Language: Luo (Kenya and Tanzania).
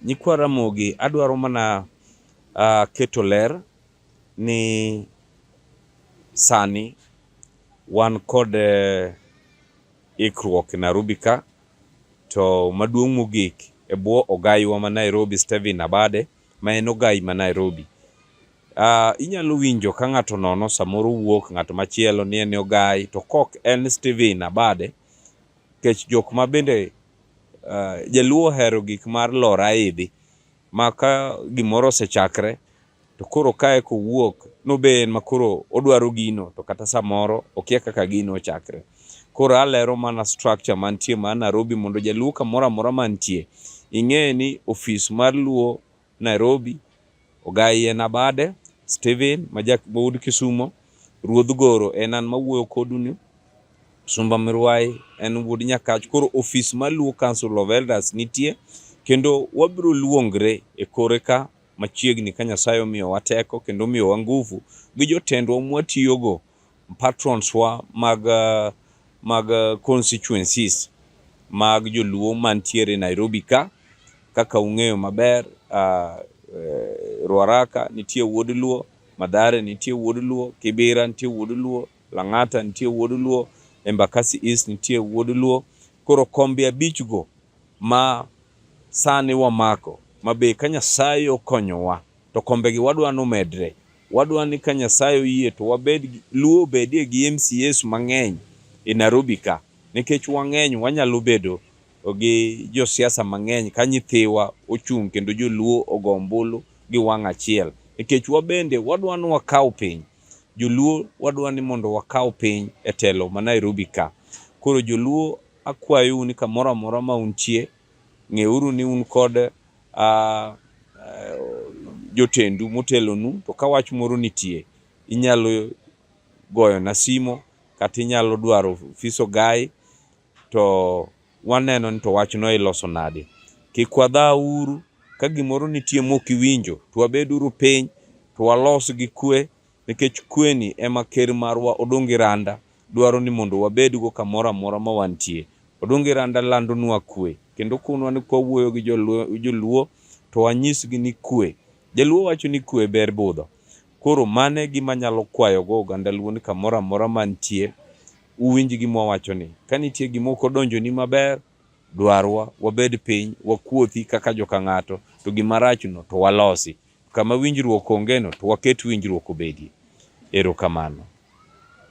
Nyikwa Ramogi, adwaro mana uh, keto ler ni sani wan kod uh, ikruok e Nairobi ka to maduong' mogik e bwo ogayiwa ma Nairobi Stephen Abade ma en ogayi ma Nairobi. Uh, inyalo winjo ka ng'ato nono samoro wuok ng'at machielo ni en ogayi to kok en Stephen Abade kech jok ma bende Jaluo ohero gik mar lor aidhi ma ka gimoro osechakre to koro kae kowuok nobe en ma koro odwaro gino to kata samoro okia kaka gino ochakre. Koro alero mana structure mantie ma Narobi mondo jaluo kamoro amora mantie ing'e ni ofis mar Luo Nairobi, Ogai en abade, Steven majak maud Kisumo, Ruodh Goro en an mawuoyo koduni, Sumba Mirwai en wuod Nyakach. Koro ofis mar Luo Council of Elders nitie kendo wabiro luongre e kore ka machiegni ka Nyasaye omiyowa teko kendo omiyowa nguvu gi jotendwa mwatiyogo patrons wa mag uh, mag uh, constituencies mag joluo mantiere Nairobi ka kaka ung'eyo maber uh, uh, Ruaraka nitie wuod luo Madhare nitie wuod luo Kibira nitie wuod luo Lang'ata nitie wuod luo Embakasi East nitie wuod luo koro kombe abich go ma sani wamako mabe ka Nyasaye okonyowa to kombegi wadwa ni omedre. Wadwa ni ka Nyasaye oyie to wabed Luo obedie gi MCAs mang'eny e Nairobi ka nikech wang'eny wanyalo bedo gi josiasa mang'eny ka nyithiwa ochung' kendo joluo ogo ombulu gi wang' achiel nikech wabende wadwa ni wakaw piny. Joluo wadwa ni mondo wakaw piny e telo ma Nairobi ka. Koro joluo akwayou ni kamoro amora ma untie Ng'euru ni un kod a, a, jotendu motelonu, to ka wach moro nitie, inyalo goyona simo kata inyalo dwaro ofis ogayi to waneno ni to wachno iloso nade. Kik wadha uru ka gimoro nitie mok iwinjo, to wabeduru piny to walos gi kwe Nikech kweni ema ker marwa Odungi Randa dwaro ni mondo wabedgo kamoro amora ma wantie. Odungi Randa landonwa kwe kendo okonwa ni kwa wuoyo gi joluo to wanyisgi ni kwe. Jaluo wacho ni kwe ber budho. Koro mano e gima anyalo kwayogo oganda luo ni kamoro amora mantie uwinj gima wawachoni. Ka nitie gima ok odonjoni maber, dwarwa, wabed piny, wakuothi kaka joka ng'ato to gima rachno to walosi. Kama winjruok ongeno to waket winjruok obedie. Erokamano.